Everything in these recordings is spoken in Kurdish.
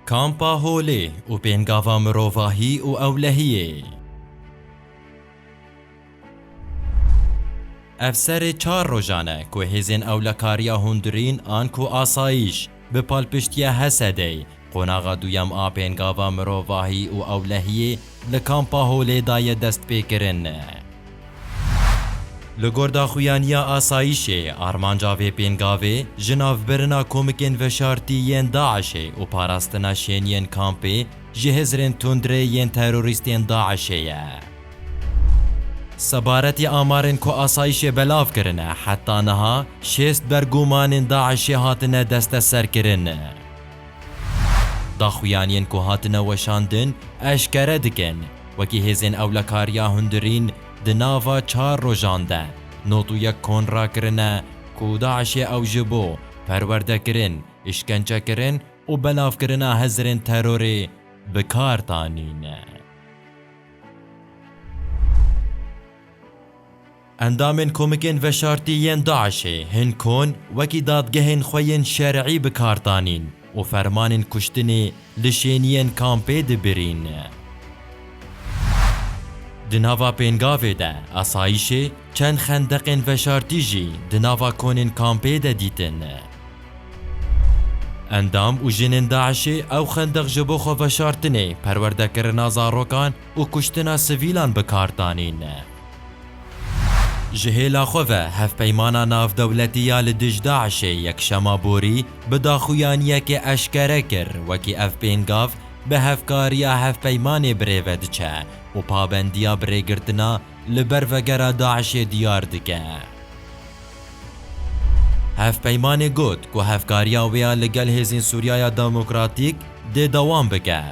Kampa Holê û pêngava mirovahî û ewlehiyê. Ev serê çar rojan e ku hêzên Ewlekariya Hundirîn an ku Asayiş, bi palpiştiya HESED'ê, qonaxa duyem a pêngava mirovahî û ewlehiyê Li Kampa Holê da ye destpêkirin. Li gorda xuyaniya asayîşê, armanca vê pêngavê ji navbirina komikên veşartî yên DAIŞ'ê û parastina şêniyên kampê ji hizrên tundrê yên terorîstên DAIŞ'ê ye. Sebaretî amarên ku asayîşê belav kirine, heta niha şêst bergumanên DAIŞ'ê hatine desteserkirin. Daxuyaniyên ku hatine weşandin eşkere dikin, wekî hêzên ewlekariya hundirîn di nava çar rojan de not û yek kon rakirine ku DAIŞ'ê ew ji bo perwerdekirin, îşkencekirin û belavkirina hezirên terorê bi kar danîne. Endamên komikên veşartî yên DAIŞ'ê hin kon wekî dadgehên xwe yên şer'î bi kar danîn û fermanên kuştinê li şêniyên kampê dibirîn. Di nava pêngavê de asayîşê, çend xendeqên veşartî jî di nava konên kampê de dîtin. Endam û jinên DAIŞ'ê ew xendeq ji bo xwe veşartinê, perwerdekirina zarokan û kuştina sivîlan bi kar danîn ne. Ji hêla xwe ve Hevpeymana Navdewletî ya li dij DAIŞ'ê yekşema borî bi daxuyaniyekê eşkere kir wekî ev pêngav bi hevkariya hevpeymanê birêve diçe û pabendiya birêgirtina li ber vegera DAIŞ'ê diyar dike. Hevpeymanê got ku hevkariya wê ya li gel hêzên Sûriyaya Demokratîk dê dewam bike.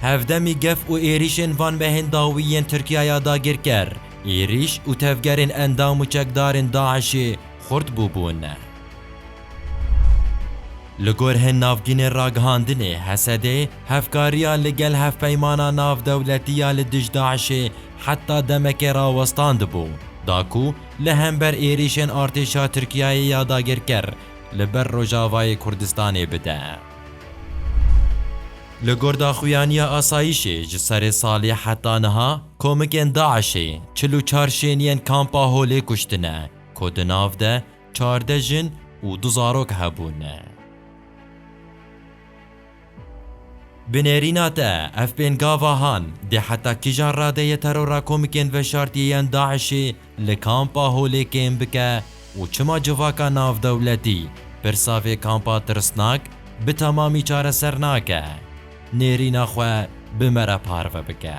Hevdemî gef û êrîşên van mehên dawî yên Tirkiyaya dagirker, êrîş û tevgerên endam û çekdarên DAIŞ'ê xurt bûbûn. Li gor hin navgînên ragihandinê Hesedê hevkariya li gel hevpeymana navdewletî ya li dij DAIŞ'ê heta demekê rawestandibû, da ku li hember êrîşên artêşa Tirkiyayê ya dagirker li ber Rojavayê Kurdistanê bide. Li gor daxuyaniya asayîşê ji serê salê heta niha komikên DAIŞ'ê çil û çar şêniyên kampa Holê kuştine ku di nav de çardeh jin û du zarok hebûn. Bi nêrîna te ev pêngavahan dê heta kîjan radeyê terora komikên veşartiyê yên DAIŞ'ê Li Kampa Holê kêm bike û çima civaka navdewletî pirsa vê kampa tirsnak bi temamî çareser nake? Nêrîna xwe bi me re parve bike.